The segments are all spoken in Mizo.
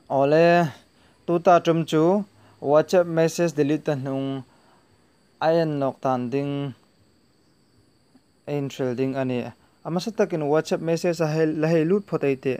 Awle, tuta ṭum chu WhatsApp message delete ta hnung a en lawk tan ding a inhrel ding a ni. A hmasa takin WhatsApp message a la hei lut phawt a i teh.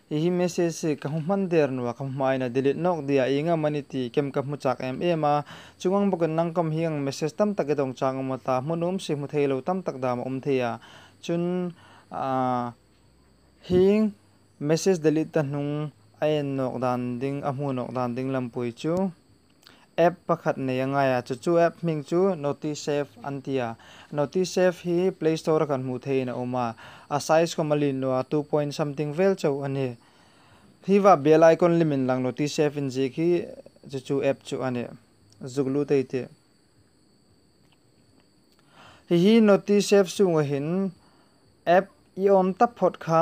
I hi message hi ka hmu hman der nuwa ka hmuhmah in a delete nawk diah inga mani ti kem ka hmu chak em em a, chungang bawk in nangkawm hi ang message tam tak i dawng chang awm a ta hmun umsi hmu thei lo tam tak dam a awm thei a chun aah hing message delete ta hnung a en nawk dan ding a hmu nawk dan ding lam pui chu. App pakhat nei a ngai a, chu chu app hming chu Notisafe an ti a. Notisafe hi Play Store-a kan hmuh theihin a awm a, a size kawma lin lo a, two point something vel chauh a ni. Hi va bial icon lim in lang Notisafe inziak hi chu chu app chu a ni, Zuglu te i tih. Hihi notice app chhungah hin app i awm ta phawt kha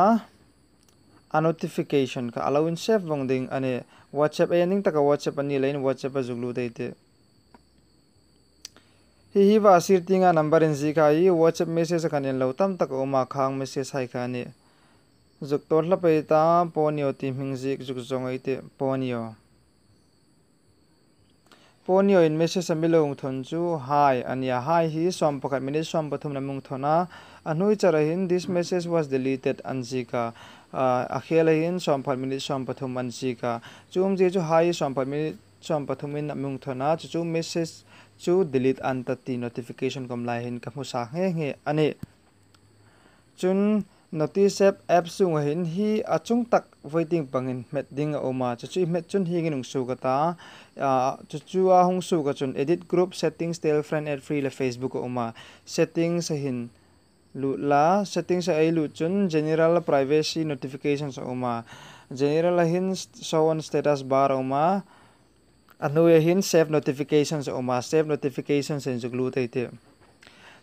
a notification kha alo in save vawng ding a ni. Whatsapp a en ding taka Whatsapp a nih lohin Whatsapp a zuk lut a itih. Hihi va sir tinga number in zih kha i Whatsapp message a kan en lo tam tak a awm a khang message hai kha a ni. Zuk tawr hlap a ita, Ponyo tih hming zik zuk zawng a itih, Ponyo. Ponioin message a milo ngthawn chu Hi a nia. Hi hi suam pakhat minute suam pathum lam ngthawn a. A hnui char ahin This message was deleted an zîk a. A khel ahin suam pakhat minute suam pathum an zîk a. Chu awmzia chu Hi hi suam pakhat minute suam pathumin a mungthawn a, chu chu message chu delete an ta tih notification kawm laiin ka hmu sa nghe nghe a ni. Chun Notices app chhungah hin hi a chung tak Voting pangin hmet ding a awm a, chu chu i hmet chun hi nginung suk a ta. Chu chu a hung suk achun Edit Group Settings, Tell Friend, Add Free leh Facebook a awm a. Settings a hin luh la, Settings a ei luh chun General, Privacy, Notifications a awm a. General a hin Show on Status bar a awm a. A hnuaiah hin Save Notifications a awm a, Save Notifications a inzuk luh thei tirh.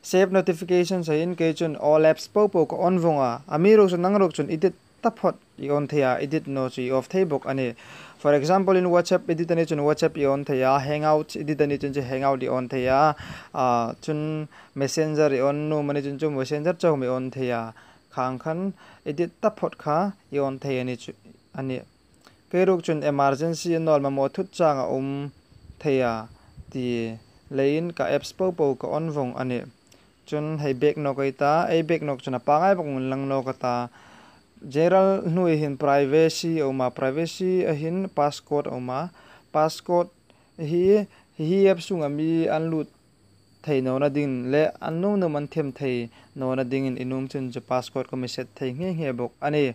Save Notifications ah hin kei chuan All Apps pau pau ka on vawng a. A mi erawh chu nang erawh chuan edit ta phawt i on thei a, edit no chu i off thei bawk a ni. For example in WhatsApp edit a nih chuan WhatsApp i on thei a, Hangouts edit a nih chuan chu Hangout i on thei a, ah chuan Messenger i on num a nih chuan chu Messenger chauhawm i on thei a, khang khan edit ta phawt kha i on thei a ni chu, a ni. Keiruk chun emergency a nawl mamawh thut chang a awm thei a ti leiin ka apps pau pau ka on vawng a ni. Chun hei bag nawk ei ta, ei bag nawk chun a pangai bawk ngun lang nawk a ta. General hnuai hin privacy a awm a, privacy a hin passcode a awm a, passcode hi hihi apps chungah mi an lut thei nawna ding leh an nawm nawm an them thei nawna dingin i num chun chu passcode kawm i set thei nghe nghe bawk a ni.